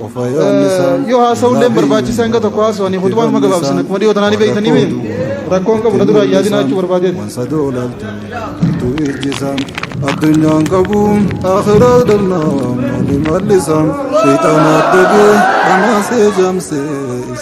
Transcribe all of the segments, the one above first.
yoo haasa'u illee barbaachisa hanga tokko haasa'u ani kutubaa nama gabaabsan akkuma dhiyoo tanaan beektanii mee rakkoon qabu na duraan yaadina jechuu barbaadeet. Addunyaan qabu akhiraa dhabnaa maali mallisaa sheexanaa dhibee dhamaasee jaamsee.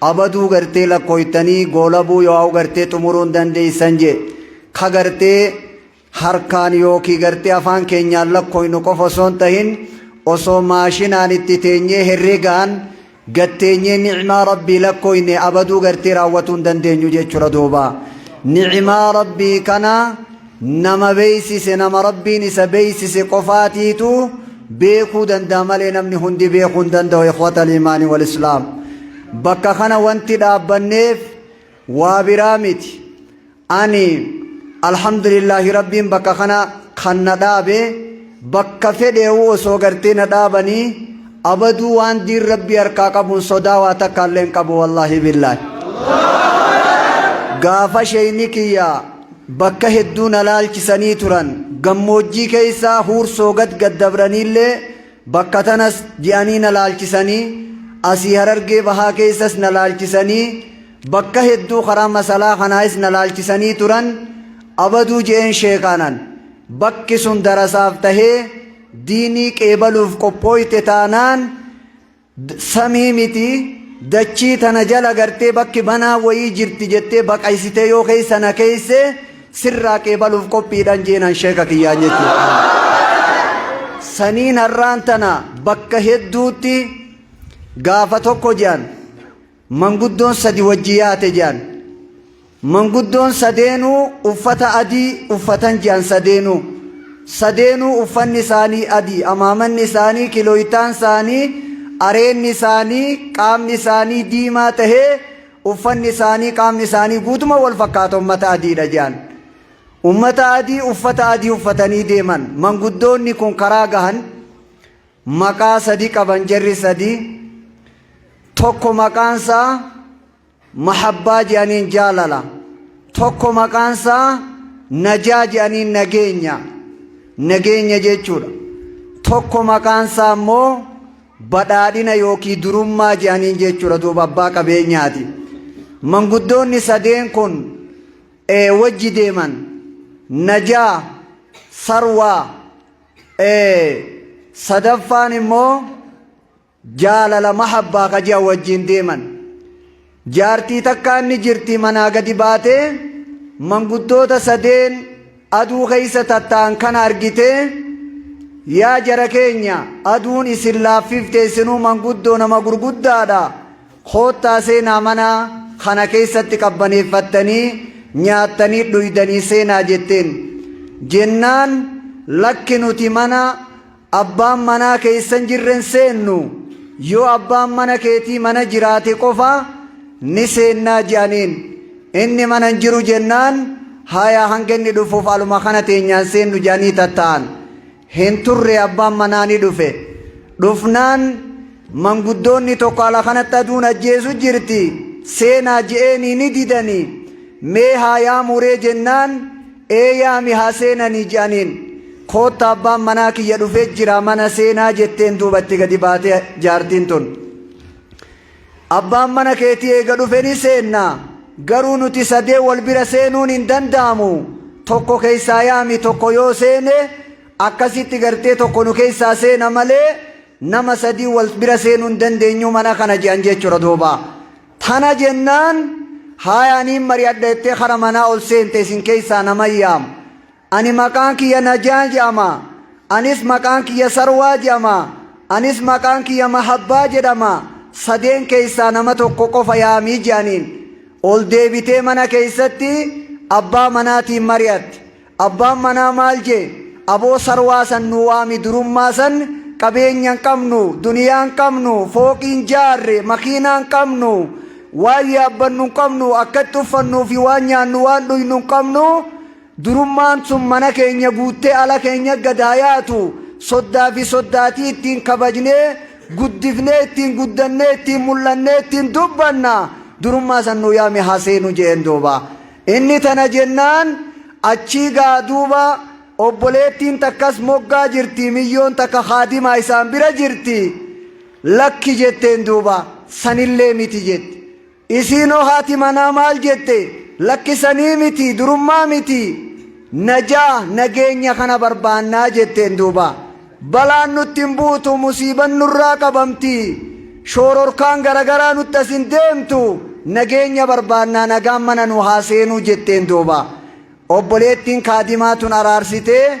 Abaduu gartee lakkooytanii goolabuu yoaau gartee xumuruu hin dandeeysan je ka gartee harkaan yookii gartee afaan keenyaan lakkooynu qofa osoo hin tahin osoo maashinaan itti teenyee herregaan gad teenyee ni'maa rabbii lakkooyne abaduu gartee raawwatuu hin dandeenyu jechuudha duuba ni'maa rabbii kana Nama beeksise nama Rabbiin isa beeksise qofaatiitu beekuu danda'a malee namni hundi beekuu hin danda'u ikhwata liimaanii wal islaam. Bakka kana wanti dhaabbanneef waa biraa miti. Ani alhamdulillaahi Rabbiin bakka kana kan na dhaabe bakka fedheewu osoo gartee na dhaabanii abaduu waan diin Rabbii harkaa qabuun sodaa waa takka illee hin qabu wallaahi billaahi. Gaafa sheeyni kiyyaa Bakka hedduu na laalchisanii turan. Gammoojjii keessaa Huursoo gad gad dabraniillee bakka tanas ji'anii na laalchisanii, asii Harargee Bahaa keessas na laalchisanii, bakka hedduu karaa Masalaa kanaayis na laalchisanii turan. Abaduu je'een sheekaanan. Bakki sun darasaaf tahee diinii qeebaluuf qophooyte taanaan, Samii miti dachii tana jala gartee bakki banaa wayii jirti jettee baqaysitee yoo keessa na keeyse sirraa qeebaluuf qophiidhan jeenan sheeka kiyyaan jechuudha. Saniin har'aan tana bakka hedduutti gaafa tokko jean Manguddoon sadi wajji yaate je'an. Manguddoon sadeenuu uffata adii uffatan je'an sadeenuu. Sadeenuu uffanni isaanii adii, amaamanni isaanii, kilooytaan isaanii, areenni isaanii, qaamni isaanii diimaa tahee uffanni isaanii, qaamni isaanii guutuma wal fakkaata ummata adiidha je'an. Ummata adii uffata adii uffatanii deeman. Manguddoonni kun karaa gahan. Maqaa sadi qaban jarri sadi tokko maqaan isaa mahabbaa je'aniin jaalala tokko maqaan isaa najaa je'aniin nageenya nageenya jechuudha tokko maqaan isaa immoo badhaadhina yookiin durummaa je'aniin jechuudha duuba abbaa qabeenyaati manguddoonni sadeen kun ee wajji deeman najaa sarwaa sadaffaan immoo jaalala mahabbaa ka ji'a wajjiin deeman jaartii takkaa inni jirti manaa gadi baatee manguddoota sadeen aduu keessa tatta'an kana argitee yaa jara keenya aduun isin laaffifte isinuu manguddoo nama gurguddaadha Koottaa seenaa mana kana keessatti qabbaneeffattanii nyaattanii dhuydanii seenaa jetteen. Jennaan lakki nuti mana abbaan manaa keessan jirren seennu yoo abbaan mana keetii mana jiraate qofa ni seennaa je'aniin. Inni mana hin jiru jennaan haya hanga inni dhufuuf aluma kana teenyaan seennu je'anii tatta'an. Hin turre abbaan manaa ni dhufe. Dhufnaan manguddoonni tokko ala kanatti aduun ajjeesu jirti seenaa je'eenii ni didanii mee haa yaamuree jennaan ee yaami haa seenanii je'aniin. Kootta abbaan manaa kiyya dhufee jira mana seenaa jetteen duuba itti gadi baate jaartiin tun. Abbaan mana keetii eega dhufe ni seenna, garuu nuti sadeen wal bira seenuun hin danda'amu, tokko keessaa yaami, tokko yoo seene, akkasitti gartee tokko nu keessaa seena malee nama sadii wal bira seenuu hin dandeenyu mana kana je'an jechuudha duuba. Tana jennaan haaya aniin mari'adha jettee kara manaa ol seente isin keessaa nama yaamu. Ani maqaan kiyya Najaan jedhama. Anis maqaan kiyya Sarwaa jedhama. Anis maqaan kiyya Mahabbaa jedhama. Sadeen keessaa nama tokko qofa yaamii jedhaniin. Ol deebitee mana keessatti abbaa manaatiin mari'atte. Abbaan manaa maal jee? Aboo Sarwaa san nu waami durummaa san qabeenya hin qabnu, duniyaa hin qabnu, fooqii hin jaarre, makiinaa hin qabnu, waan yaabbannu hin qabnu, akkatti uffannuu fi waan nyaannu waan dhuynu hin qabnu. Durummaan sun mana keenya guuttee ala keenya gad haa yaatu, soddaa fi soddaatii ittiin kabajnee, guddifnee, ittiin guddannee, ittiin mul'annee, ittiin dubbanna. Durummaa san nuu yaami haa seenu je'een duuba. Inni tana jennaan achii gaa duuba obboleettiin takkas moggaa jirti, miyyoon takka khaadimaa isaan bira jirti. Lakki jetteen duuba, sanillee miti jette. Isiinoo haati manaa maal jette? Lakki sanii miti, durummaa miti. Najaa, nageenya kana barbaannaa jetteen duuba. Balaan nutti hin buutu, musiiban nurraa qabamti. Shoororkaan garagaraa nutti as hin deemtu. Nageenya barbaannaa nagaan mana nu haa seenuu jetteen duuba. Obboleettiin kaadimaa tun araarsitee.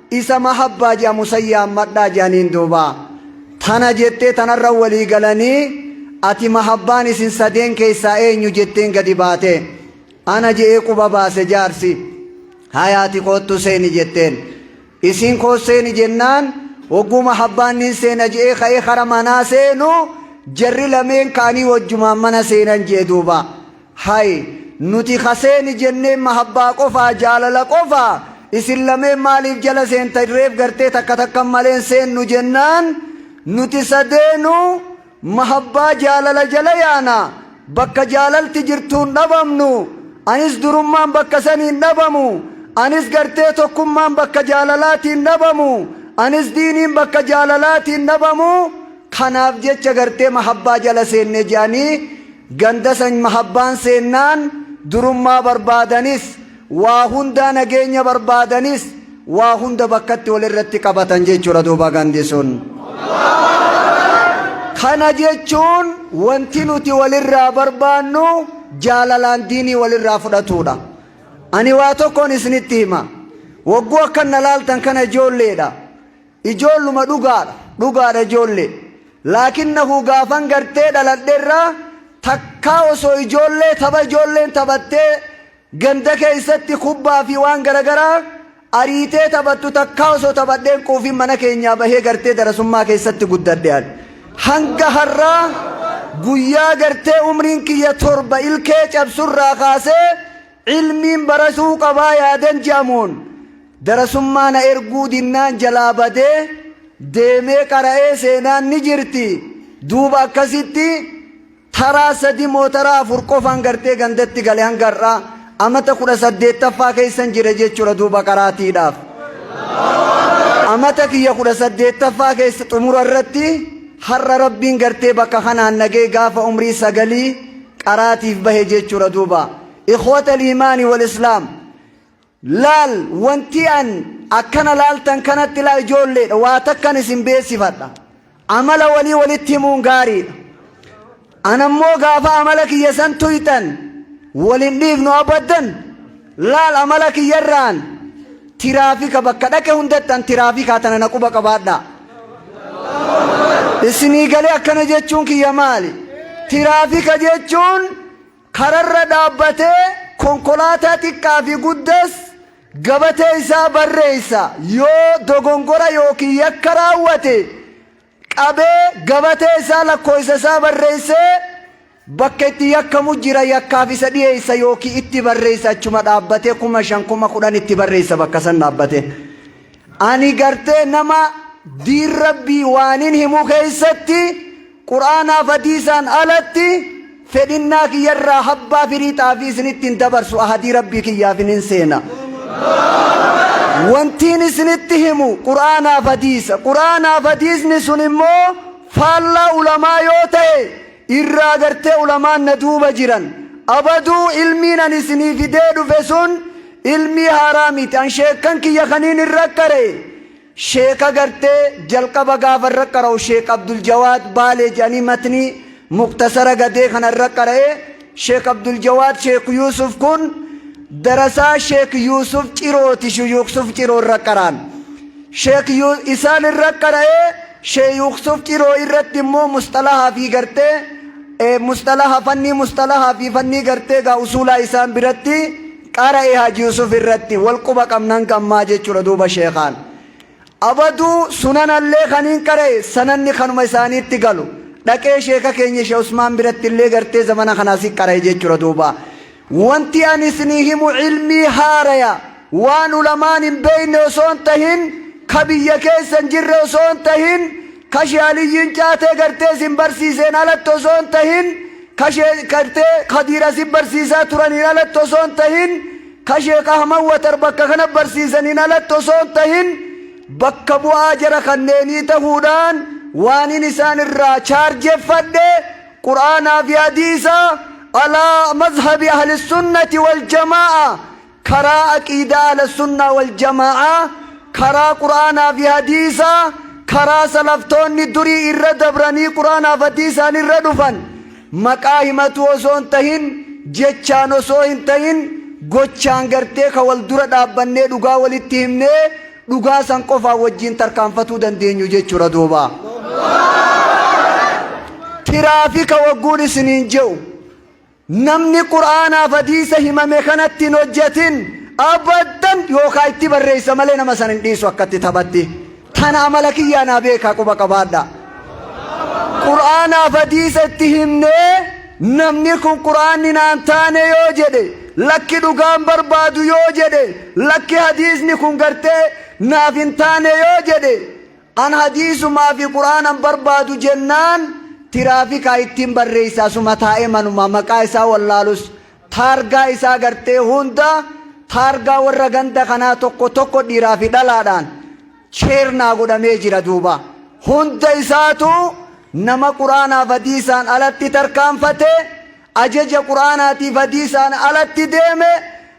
Isa mahabbaa je'amu san yaammadhaa je'aniin duuba. Tana jettee tanarra walii galanii ati mahabbaan isin sadeen keessaa eenyu jetteen gadi baate. Ana je'ee quba baase jaarsi. Haya ati koottu seeni jetteen. Isiin koos seeni jennaan hogguu mahabbaan nin seena je'ee ka'ee kara manaa seenu jarri lameen ka'anii wajjumaan mana seenan je'e duuba. Hay nuti ha seeni jenneen mahabbaa qofaa jaalala qofaa isin lameen maaliif jala seentan reef gartee takka takkan malee hin seennu jennaan nuti sadeenu mahabbaa jaalala jala yaana bakka jaalalti jirtu hin dhabamnu anis durummaan bakka sani hin dhabamu anis gartee tokkummaan bakka jaalalaatiin dhabamu anis diiniin bakka jaalalaatiin dhabamu Kanaaf jecha gartee mahabbaa jala seenne je'anii ganda san mahabbaan seennaan durummaa barbaadanis waa hundaa nageenya barbaadanis waa hunda bakkatti walirratti qabatan jechuudha duuba gandi sun. Kana jechuun wanti nuti walirraa barbaannu jaalalaan diinii walirraa fudhatuudha. Ani waa tokkoon isinitti hima. Wagguu akkan na laaltan kana ijoolleedha. Ijoolluma dhugaadha dhugaadha ijoollee laakinnahu gaafan gartee dhaladherraa takkaa osoo ijoollee tapha ijoolleen taphattee ganda keessatti kubbaa fi waan garagaraa ariitee taphattu takkaa osoo taphadheen quufin mana keenyaa bahee gartee darasummaa keessatti guddadhe ani hanga har'aa guyyaa gartee umriin kiyya torba ilkee cabsurraa kaasee Ilmiin barasuu qabaa yaadan je'amuun darasummaa na erguu dinnaan jalaa badee deemee qara'ee seenaan ni jirti duuba akkasitti taraa sadi moo taraa afur qofaan gartee gandatti gale hanga har'aa amata kudha saddeettaffaa keessan jira jechuudha duuba qaraatiidhaaf amata kiyya kudha saddeettaffaa keessa xumura irratti har'a rabbiin gartee bakka kanaan nagee gaafa umrii sagalii qaraatiif bahe jechuudha duuba ikhwata liimaani wal islaam laal wanti an akkana laaltan kanatti laa ijoolleedha waa takkan isin beeksifadha amala walii walitti himuun gaariidha anammoo gaafa amala kiyya san tuyxan walin dhiifnu abaddan Laal amala kiyyarraan tiraafika bakka dhaqe hundatti an tiraafikaa tana na quba qabaadhaa. Isinii galee akkana jechuun kiyya maali? Tiraafika jechuun kararra dhaabbatee konkolaataa xiqqaa fi guddas gabatee isaa barreessa yoo dogongora yookiin yakka raawwate qabee gabatee isaa lakkooysa isaa barreessee bakka itti yakkamu jira yakkaaf isa dhiyeessa yookiin itti barreessa achuma dhaabbatee kuma shan kuma kudhan itti barreessa bakka san dhaabbatee ani gartee nama diin rabbii waanin himuu keessatti quraanaaf hadiisaan alatti Fedhinnaa kiyya irraa habbaa firii xaafii isinitti hin dabarsu, ahadii Rabbii kiyyaafin hin seena. Wantiin isinitti himu Qur'aanaaf hadiisa. Qur'aanaaf hadiisni sun immoo faallaa ulamaa yoo ta'e irraa gartee ulamaan na duuba jiran. Abaduu ilmiin ani isinii fidee dhufe sun ilmii haaraa miti. An sheekkan kiyya kaniin irra qara'e. Sheeka gartee jalqaba gaafa irra qara'u Sheek Abdul Jawaad Baalee jedhanii matnii Mukhtasara Gadee kana irra qara'e Sheek Abdul Jawaad Sheek Yuusuf kun darasaa Sheek Yuusuf Cirooti Shuyuuksuf Ciroo irra qaraan Sheek isaan irra qara'e Sheeyuuksuf Ciroo irratti immoo musxalahaa fi gartee musxalaha fannii musxalahaa fi fannii gartee gaa usuulaa isaan biratti Qara'e Haji Yusuf irratti wal quba qabnan gammaa jechuudha duuba sheekhaan abaduu sunanallee kaniin qara'e sananni kanuma isaaniitti galu dhaqee sheeka keenya she usmaan birattillee gartee zamana kanaa si qara'e jechuudha duuba wanti ani isinii himu ilmii haaraya waan ulamaan hin beeyne osoo hin tahin ka biyya keessa hin jirre osoo hin tahin Kashee Aliyyiin caatee gartee sin barsiiseen alatti osoo hin tahin, kashee gartee Kadiir asi barsiisaa turaniin alatti osoo hin tahin, kashee Ahmad Watar bakka kana barsiisaniin alatti osoo hin tahin, bakka bu'aa jara kanneenii tahuudhaan waanin isaan irraa chaarjeffadhe Qur'aanaa fi Hadiisa alaa mazhabi Ahli Sunnati wal Jamaa'a karaa aqiidaa ahlassunnaa waljama'aa karaa qur'aanaa fi hadiisaa karaa salaftoonni durii irra dabranii qur'aanaa fi hadiisaan irra dhufan maqaa himatuu osoo hin tahin jechaan osoo hin tahin gochaan gartee ka wal dura dhaabbannee dhugaa walitti himnee dhugaa san qofaan wajjiin tarkaanfatuu dandeenyu jechuudha duuba tiraafika wagguun isiniin je'u Namni Qur'aanaaf Hadiisa himame kanatti hin hojjatin abaddan yookaa itti barreessa malee nama san hin dhiisu akkatti taphatti. Tana amala kiyyaa naa beekaa quba qabaadha. Qur'aanaaf Hadiisa itti himnee namni kun Qur'aanni naan taane yoo jedhe lakki dhugaan barbaadu yoo jedhe lakki hadiisni kun gartee naaf hin taane yoo jedhe An hadiisumaa fi quraanan barbaadu jennaan tiraafikaa ittin barreessa asuma taa'ee manumaa maqaa isaa wallaalus taargaa isaa gartee hunda taargaa warra ganda kanaa tokko tokko dhiiraa fi dhalaadhaan cheernaa godhamee jira duuba hunda isaatu nama quraanaaf hadiisaan alatti tarkaanfatee Ajaja Qur'aanaatiif Hadiisaan alatti deeme,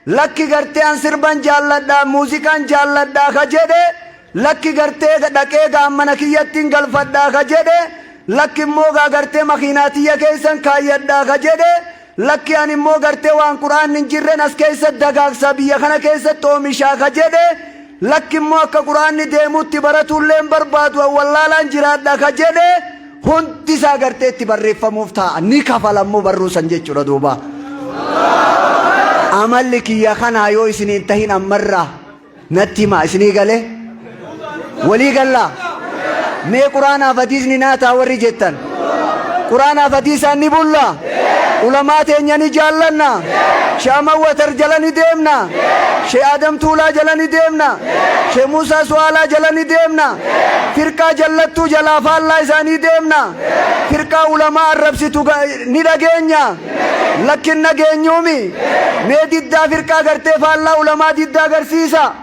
lakki gartee an sirban jaalladha, muuziqaan jaalladha ka jedhe, lakki gartee dhaqee gaa mana kiyyattin galfadha ka jedhe, lakki immoo gaa gartee makiinaa tiyya keessan kaayyadha ka jedhe, lakki an immoo gartee waan Qur'aanni hin jirren as keessatti dagaagsa, biyya kana keessatti oomisha ka jedhe, Lakki immoo akka Qur'aanni deemuutti baratuu illee hin barbaadu an wallaalaan jiraadha ka jedhe hundi isaa gartee itti barreeffamuuf taa'a ni kafala immoo barruu san jechuudha duuba. Amalli kiyya kanaa yoo isin hin tahin ammarraa natti himaa isinii galee walii gallaa mee Qur'aanaaf hadiisni naa taa warri jettan. Quraanaaf hadiisaan ni bulla? Ulamaa teenya ni jaallanna? Shee Ahmad Watar jala ni deemna? Shee Adam Tuulaa jala ni deemna? Shee Muusaa Su'aalaa jala ni deemna? Firqaa jallattuu jalaa faallaa isaanii deemna? Firqaa ulamaa arrabsitu ga- ni dhageenya? Lakkin dhageenyuumi? Mee diddaa firqaa gartee faallaa ulamaa diddaa agarsiisa?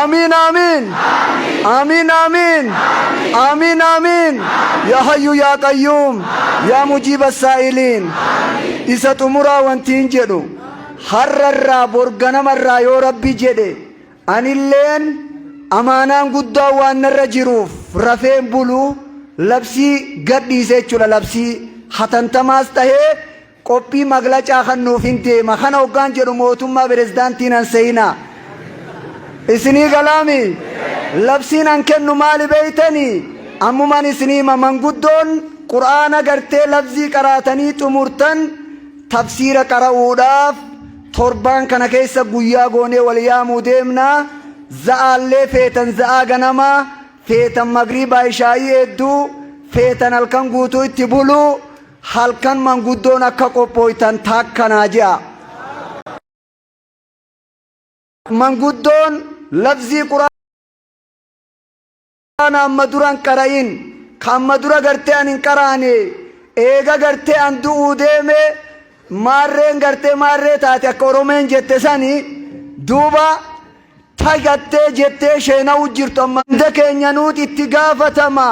Amiin Amiin Amiin Amiin Amiin Amiin Yaa Hayyuu Yaa Qayyuum Yaa Mujiiba Saa'iliin Isa xumuraa wantiin jedhu har'arraa bor ganamarraa yoo rabbi jedhe anilleen amaanaan guddaa waan narra jiruuf rafeen bulu labsii gadhiise jechuudha labsii hatantamaas tahee Qophii maglacaa kannuufin deema kana oggaan jedhu mootummaa pirezidaantii nan se'inaa. Isinii galaami? Labsiin an kennu maali beeytanii? Ammuman isinii hima manguddoon Qur'aana gartee lafzii qaraatanii xumurtan tafsiira qara'uudhaaf torbaan kana keessa guyyaa goonee wal yaamuu deemna za'aallee feetan za'aa ganamaa feetan magriibaa ishaa'ii eedduu feetan halkan guutuu itti buluu Halkan manguddoon akka qophooytan takka naa je'a. Manguddoon labzii quraana amma dura hin qara'in ka amma dura gartee an hin qaraane eega gartee an du'uu deeme maarreen gartee maarree taate akka oromeen jette sani duuba fagattee jettee sheena'u jirtu amma hunda keenya nuuti itti gaafatama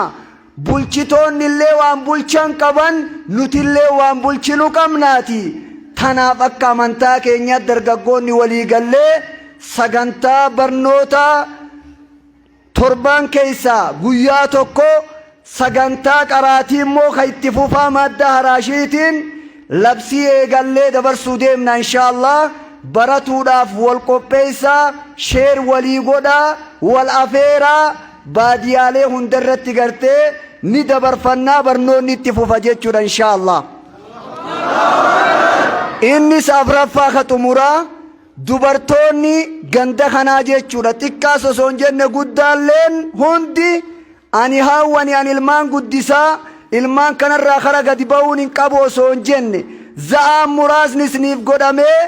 bulchitoonni illee waan bulchan qaban nuti illee waan bulchinu qabnaati tanaaf akka amantaa keenyaatti dargaggoonni walii gallee sagantaa barnootaa Torbaan keessaa guyyaa tokko sagantaa qaraatii immoo ka itti fufaa maaddaa haraashiitiin labsii eegallee dabarsuu deemna inshaa allaah baratuudhaaf wal qopheessaa share walii godhaa wal afeeraa baadiyaalee hunda irratti gartee ni dabarfannaa barnoonni itti fufa jechuudha inshaa allaah innis afraffaa ka xumuraa Dubartoonni ganda kanaa jechuudha xiqqaas osoo hin jenne guddaalleen hundi ani haawwani ani ilmaan guddisaa ilmaan kanarraa kara gadi ba'uun hin qabu osoo hin jenne za'aan muraasni isiniif godhamee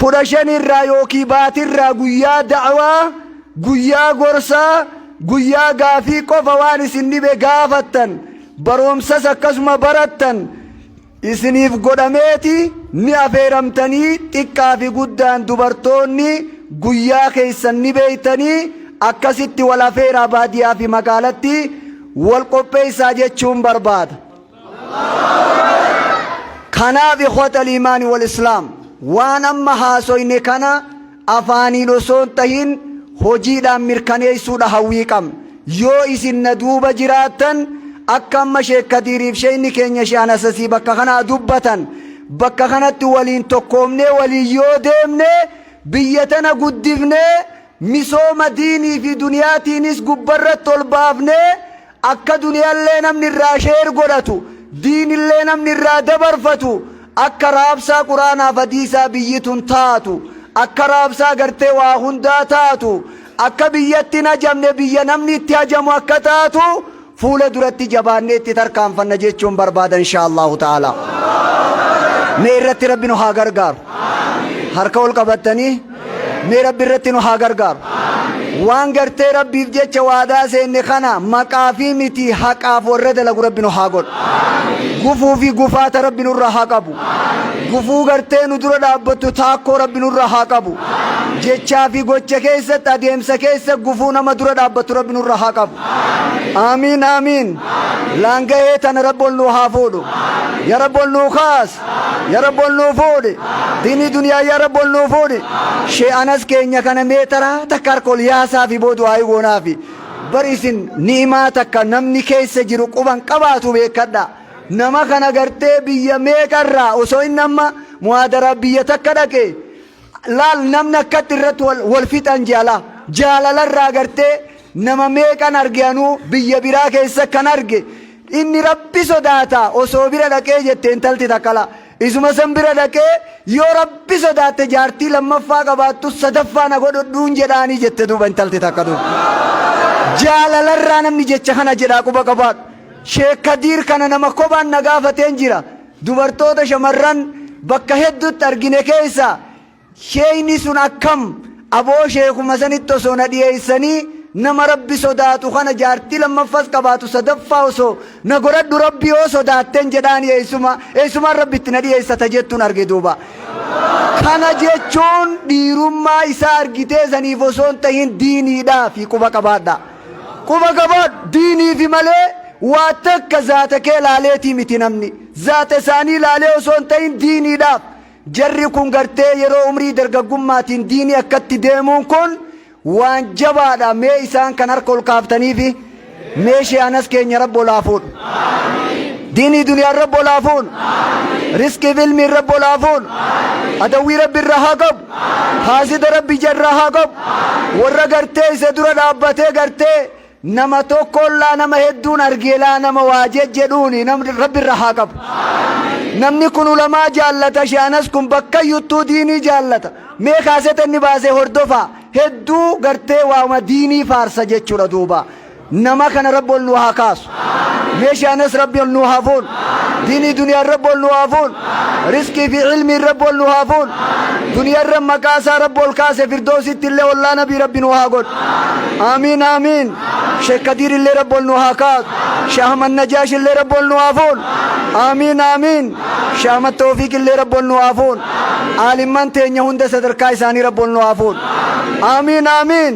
kudha shanirraa yookiin baatirraa guyyaa da'awaa guyyaa gorsaa guyyaa gaafii qofa waan isin dhibe gaafattan baroomsas akkasuma barattan isiniif godhameeti ni afeeramtanii xiqqaa fi guddaan dubartoonni guyyaa keessan ni beektanii akkasitti wal afeeraa baadiyaa fi magaalatti wal qopheessaa jechuun barbaada. Kanaaf ikhwata liimaani wal islaam waan amma haasoyne kana afaaniin osoo hin tahin hojiidhaan mirkaneessuudha hawwii qabna. Yoo isin na duuba jiraattan akka amma Sheek Kadiiriif Sheeyni keenya Sheehan Asasii bakka kanaa dubbatan bakka kanatti waliin tokkoomnee waliin yoo deemne biyya tana guddifnee misooma diinii fi duniyaatiinis gubbarratti ol baafnee Akka duniyallee namni irraa share godhatu, diinillee namni irraa dabarfatu, akka raabsaa quraanaaf hadiisaa biyyi tun taatu, akka raabsaa gartee waa hundaa taatu, akka biyyatti hin hajamne biyya namni itti hajamu akka taatu fuula duratti jabaannee itti tarkaanfanna jechuun barbaada inshaa Allahu ta'ala. Mee irratti rabbi nu haa gargaaru. Harka ol qabattanii. Mee rabbi irratti nu haa gargaaru. Waan gartee rabbiif jecha waadaa seenne kana maqaa fi miti haqaaf warra dalagu rabbi nu haa godhu. Gufuu fi gufaata rabbi nurra haa qabu. Gufuu gartee nu dura dhaabbattu taakkoo rabbi nurra haa qabu. Jechaa fi gocha keessatti adeemsa keessa gufuu nama dura dhaabbattu rabbi nurra haa qabu. Aamiin aamiin. Laangahee tana rabbi ol nu haa fuudhu. Ya rabbi ol nu kaas. Ya Rabbi ol nuu fuudhi. Diinii duniyaa ya Rabbi ol nuu fuudhi. Shee Anas keenya kana mee taraa takka harka ol yaasaafi boo du'aa'ii goonaafi. Bar isin ni'imaa takka namni keessa jiru quban qabaatu beekkadha. Nama kana gartee biyya meeqarraa osoo inni amma muhaadaraa biyya takka dhaqee Laal namni akkatti irratti wal, wal fixan jaalaa. Jaalala irraa agartee nama meeqan arge anuu biyya biraa keessa kan arge inni rabbi sodaata osoo bira dhaqee jette intalti takkala. Isuma san bira dhaqee yoo rabbi sodaatte jaartii lammaffaa qabaattu sadaffaa na godhodhuun jedhaanii jette duuba intalti takka duuba. Jaalala irraa namni jecha kana jedhaa quba qabaadhu. Sheek Kadiir kana nama kophaan na gaafateen jira. Dubartoota shamarran bakka hedduutti argine keessaa sheeyni sun akkam aboo sheekuma sanitti osoo na dhiyeessanii nama rabbi sodaatu kana jaartii lammaffas qabaatu sadaffaa osoo na goradhu rabbi yoo sodaatten jedhaani eessuma eessumaan rabbi itti na dhiyeessata jettuun arge duuba kana jechuun dhiirummaa isaa argitee saniif osoo hin tahin diiniidhaa fi quba qabaadha Quba qabaadhu, diiniifi malee waa takka zaata kee laaleetii miti namni. Zaata isaanii laalee osoo hin ta'in diiniidhaaf. Jarri kun gartee yeroo umrii dargaggummaatiin diinii akkatti deemuun kun waan jabaadha mee isaan kan harka ol kaaftaniifi mee sheehanas keenya rabbi ol haa fuudhu. Diinii duniyaan rabbi ol haa fuunu. Riskiif ilmiin rabbi ol haa fuunu. Adawwii rabbi irraa haa qabu. Haasida rabbi jarra haa qabu. Warra gartee isa dura dhaabbatee gartee nama tokkoon laa nama hedduun argee laa nama waa jejjedhuuni nam rabbi irra haa qabu. Namni kun ulamaa jaallata shaanas kun bakkayyuttuu diinii jaallata. Mee kaaseta inni baase hordofaa hedduu gartee waama diinii faarsa jechuudha duuba. Nama kana rabbi ol nu haa kaasu. Meeshaa anas rabbi ol nu haa fuun. Diinii duniyaan rabbi ol nu haa fuun. Risqii fi ilmiin rabbi ol nu haa fuun. Duniyarra maqaa isaa rabbi ol kaase firdoositti illee ollaa nabii rabbi nu haa godhu. Aamiin aamiin. Sheek Kadiir illee rabbi ol nu haa kaasu. Sheek Ahmad Najaash illee rabbi ol nu haa fuun. Aamiin aamiin. Sheek Ahmad Toofiiq illee rabbi ol nu haa fuun. Aalimman teenya hunda sadarkaa isaanii rabbi ol nu haa fuun. Aamiin aamiin.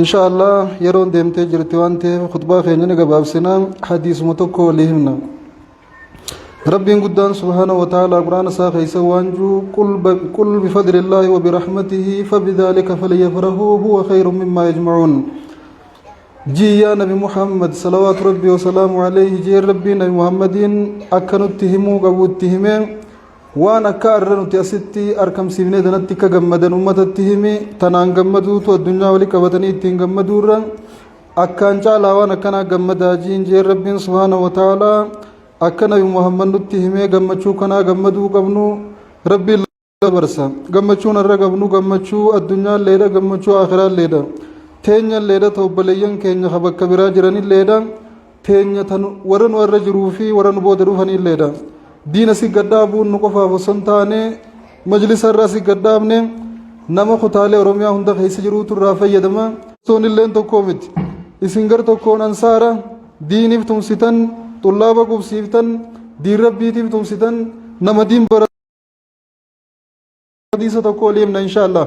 inshaallah yeroon deemtee jirti waan ta'eef khutbaa keenya ni gabaabsina hadiisuma tokko walii himna rabbiin guddaan subhaana wa ta'aalaa quraana isaa keessa waan juu qul bifadlillaahi wa birahmatihi fabidaalika falyafrahuu huwa khayrun mimmaa yajmacuun jii yaa nabi muhammad salawaatu rabbii wasalaamu alayhi jeen rabbii nabi muhammadiin akka nutti himuu qabu itti himee Waan akka arra nuti asitti arkamsiifnee tanatti akka gammadan ummatatti himi tanaan gammaduutu addunyaa wali qabatanii ittiin gammaduurra akkaan caalaa waan akkanaa gammadaa jiin jee rabbiin subhaanahu wa ta'aalaa akka nabi muhammad nutti himee gammachuu kanaa gammaduu qabnu rabbiin dabarsa gammachuun irra qabnu gammachuu addunyaalleedha gammachuu aakiraalleedha teenyalleedha ta obboleeyyan keenya ka bakka biraa jiranilleedha teenya tan warra nu irra jiruu fi warra nu booda dhufaniilleedha. Diina si gaddaabuun nu qofaaf osoo hin taane majlisa irraa si gaddaabne nama kutaalee Oromiyaa hunda keessa jiruutu irraa fayyadama. Toon illeen tokkoo miti. Isin gar tokkoon ansaara diiniif tumsitan xullaaba qubsiiftan diin rabbiitiif tumsitan nama diin bara hadiisa tokko oliimna inshaallah.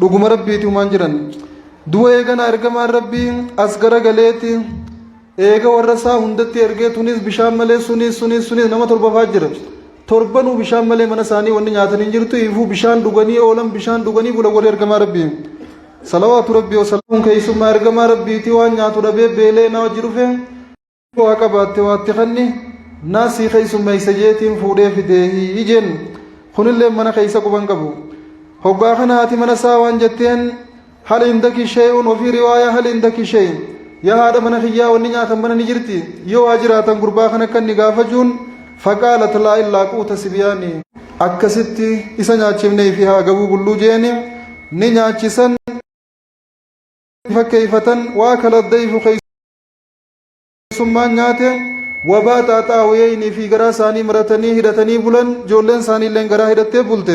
dhuguma rabbiiti umaan jiran duba eegana ergamaan rabbii as garagaleeti eega warra isaa hundatti ergee tunis bishaan malee sunis sunis sunis nama torbafaa jira torbanuu bishaan malee mana isaanii wanni nyaatan hin jirtu ifuu bishaan dhuganii oolan bishaan dhuganii bula warri ergamaa rabbii salawaatu rabbii wasalaamuun keessummaa ergamaa rabbiitii waan nyaatu dhabee beelee naa wajji dhufee waa qabaatte waatti kanni naasii keessummeessa jeetiin fuudhee fidee hii jeen kunillee mana keessa quban qabu hoggaa kana haati mana isaa waan jetteen hal indaki shay'un ofii riwaayaa hal indaki shay yaa haadha mana kiyyaa wanni nyaatan mana ni jirti yoo waa jiraatan gurbaa kana kan ni gaafachuun faqaalat laa illaa quuta sibiyaani akkasitti isa nyaachifnee fi haa gabuu bulluu jeeni ni nyaachisan fakkeeyfatan waa kala dayfu keessa bilisummaan nyaate wabaa xaaxaa hoyeeynii fi garaa isaanii maratanii hidhatanii bulan ijoolleen isaanii illeen garaa hidhattee bulte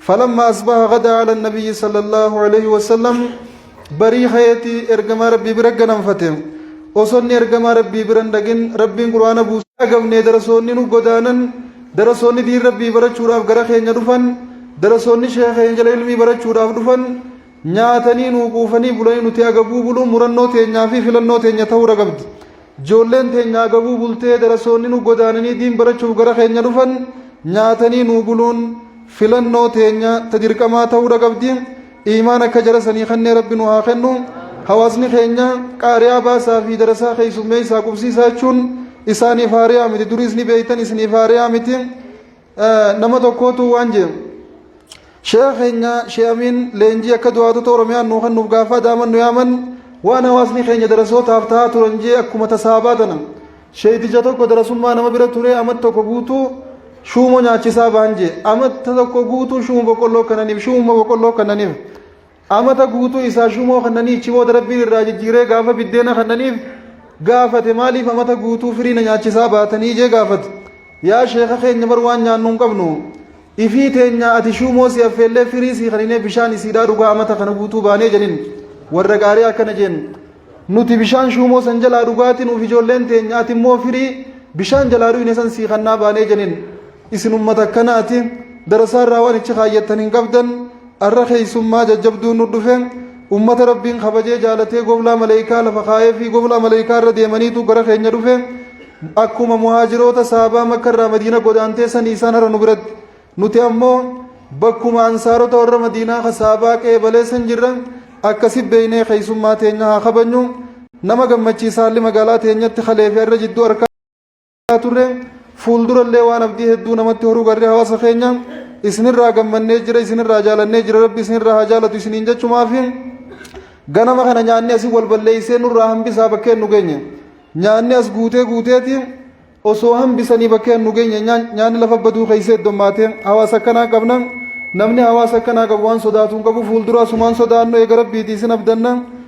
falamma asbaha gadaa ala nabiyyi sallallahu alaihi wasallam barii hayeeti ergamaa rabbii bira ganamfate osonni ergamaa rabbii biran dhagin rabbiin qur'aana buusa agamne darasoonni nu godaanan darasoonni diin rabbii barachuudhaaf gara keenya dhufan darasoonni sheekha keenya jala ilmii barachuudhaaf dhufan Nyaatanii nuu quufanii bulanii nuti agabuu buluun murannoo teenyaa fi filannoo teenya ta'uudha qabdi. Ijoolleen teenya agabuu bultee darasoonni nu godaananii diin barachuuf gara keenya dhufan nyaatanii nuu buluun filannoo teenya ta dirqamaa ta'uudha qabdi. Iimaan akka jara sanii kannee rabbi nu haa kennu. Hawaasni keenya qaariyaa baasaa fi darasaa keessummeessaa qubsiisaa jechuun isaaniif haariyaa miti. Duriis ni beektan isiniif haariyaa miti. nama tokkootu waan jedhu sheekha keenya shee amiin leenjii akka du'aatota oromiyaan nuu kennuuf gaafaa daaman nu yaaman waan hawaasni keenya darasootaaf ta'aa turan jee akkuma tasaabaa tana sheeytija tokko darasummaa nama bira ture amat tokko guutuu shuumo nyaachisaa baan jee amatta tokko guutuu shuumo boqqolloo kananiif shuumo boqqolloo kananiif Amata guutuu isaa shumoo kannanii ichi booda rabbiin irraa jijjiiree gaafa biddeena kannaniif gaafate maaliif amata guutuu firii na nyaachisaa baatanii jee gaafate yaa sheeka keenya bar waan nyaannu hin qabnu ifii teenyaa ati shumoo si affeellee firii si kaninee bishaan isiidhaa dhugaa amata kana guutuu baanee jedhin warra gaarii akkana jeen nuti bishaan shumoo san jalaa dhugaatiin uuf ijoolleen teenya ati immoo firii bishaan jalaa dhuyne san sii kannaa baanee jedhin Isin ummata akkanaati. Darasaa irraa waan ichi kaayyattan hin qabdan. Arra keessummaa jajjabduun nu dhufe. Ummata Rabbiin kabajee jaalatee goblaa maleeykaa lafa kaayee fi goblaa maleeykaa irra deemaniitu gara keenya dhufe. Akkuma muhaajiroota saabaa makka irraa madiina godaantee sanii isaan har'a nu biratti. Nuti ammoo bakkuma ansaarota warra madiinaa ka saabaa qeebalee san jirra. Akkasi beeynee keessummaa teenya haa kabajnu. Nama gammachiisa haalli magaalaa teenyatti kalee fi har'a jidduu harkaa. haa turre fuuldurallee waan abdii hedduu namatti horuu garri hawaasa keenya isinirraa gammannee jira isinirraa jaalannee jira rabbi isinirraa haa jaalatu isiniin jechumaafi ganama kana nyaanni asii wal balleessee nurraa hambisaa bakkeen nu geenye nyaanni as guutee guuteeti osoo hambisanii bakkeen nu geenye nyaanni lafa baduu keessa heddommaate hawaasa akkanaa qabna namni hawaasa akkanaa qabu waan sodaatu hin qabu fuulduraa sumaan sodaannu eega rabbiiti isin abdanna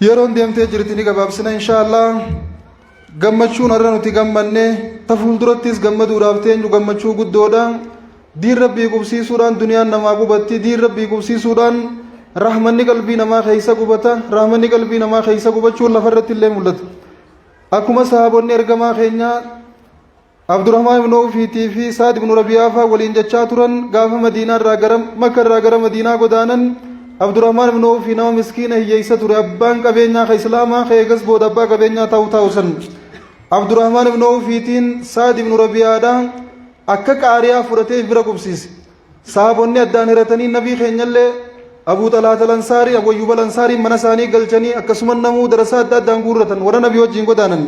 Yeroon deemtee jirti ni gabaabsina insha Allah. Gammachuun har'a nuti gammanne ta fuuldurattis gammaduudhaaf teenyu gammachuu guddoodha. Diin rabbii qubsiisuudhaan duniyaan namaa qubatti diin rabbii qubsiisuudhaan rahmanni qalbii namaa keessa qubata rahmanni qalbii namaa keessa qubachuun lafarratti illee mul'ata. Akkuma sahaabonni ergamaa keenyaa Abdurrahmaan ibn Awfiitii fi Sa'ad ibn Rabi'aa faa waliin jechaa turan gaafa Madiinaa irraa gara Makka irraa gara Madiinaa godaanan Abdurrahmaan ibn Awfii nama miskiina hiyyeessa ture abbaan qabeenyaa ka Islaamaa ka eegas booda abbaa qabeenyaa ta'u ta'u san Abdurrahmaan ibn Awfiitiin Sa'ad ibn Rabi'aadha akka qaariyaa fudhatee bira qubsiise sahaabonni addaan hiratanii nabii keenyallee Abuu Xalaata Lansaarii Abuu Ayyuuba Lansaarii mana isaanii galchanii akkasumas namuu darasaa adda addaan guurratan warra nabii wajjin godaanan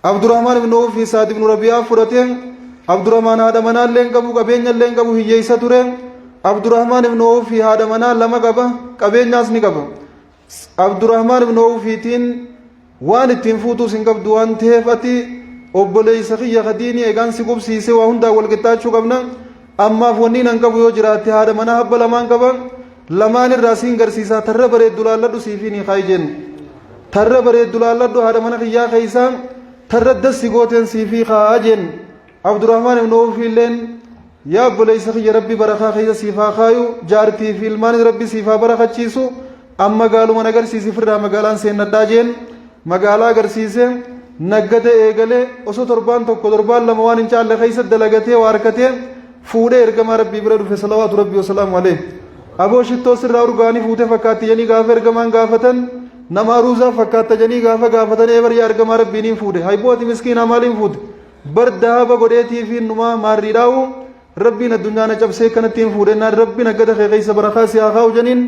Abdurahmaan ibn Awf fi Sa'ad ibn Rabi'aa fudhate. Abdurahmaan haadha manaa illee hin qabu, qabeenya illee hin qabu, hiyyeessa ture. Abdurahmaan ibn Awf fi haadha manaa lama qaba, qabeenyaas ni qaba. Abdurahmaan ibn Awfiitiin waan ittiin fuutuus hin qabdu waan ta'eef ati obboleessa kiyya kadiini egaan si qubsiise waa hundaa wal qixxaachuu qabna. Ammaaf wanni nan qabu yoo jiraatte haadha manaa habba lamaan qaba. lamaan irraa siin garsiisaa tarra bareeddu laalladhu siifi ni kaayi jennu tarra bareeddu laalladhu haadha mana kiyyaa keessaa tarra dassi gooteen siifi kaa jennu abdurrahmaan ibnu awfi illeen yaa obboleessa kiyya rabbi barakaa keessa siif haa kaayu jaartii fi ilmaanis rabbi siif haa barakachiisu amma gaaluma na garsiisi firraa magaalaan seennadhaa jeen magaalaa agarsiise naggata eegalee osoo torbaan tokko torbaan lama waan hin caalle keessa dalagatee waa harkatee fuudhee ergamaa rabbii bira dhufe salawaatu rabbii wasalaamu alee aboo shittoo sirraa urgaanii fuute fakkaatti jedhanii gaafa ergamaan gaafatan nama aruuzaa fakkaatta jedhanii gaafa gaafatan ee baryaa ergamaa rabbiin hin fuudhe haybooti miskiinaa maaliin fuute bar dahaba godheetii fi numaa maarrii dhaa'u rabbiin addunyaa na cabsee kanatti hin fuudhe naan rabbiin aggada kee keessa barakaa si haa kaa'u jedhaniin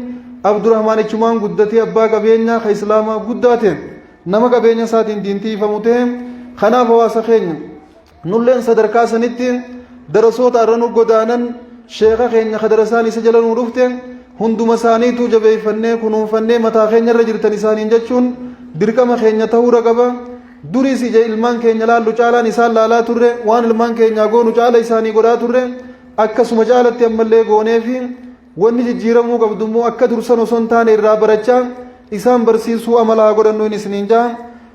abdurahmaan ichumaan guddatee abbaa qabeenyaa ka islaamaa guddaa ta'e nama qabeenya isaatiin diintii ifamu ta'e kanaaf hawaasa keenya Nulleen sadarkaa sanitti darasoota irra nu godaanan sheeka keenya ka darasaan isa jala nu dhufte hunduma isaaniituu jabeeffannee kunuunfannee mataa keenya irra jirtan isaaniin jechuun dirqama keenya ta'uu ragaba duriis ija ilmaan keenya laallu caalaan isaan laalaa turre waan ilmaan keenyaa goonu caala isaanii godhaa turre akkasuma caalatti ammallee goonee fi wanni jijjiiramuu qabdu immoo akka dursan osoo hin taane irraa barachaa isaan barsiisuu amala haa godhannu hin isiniin jaa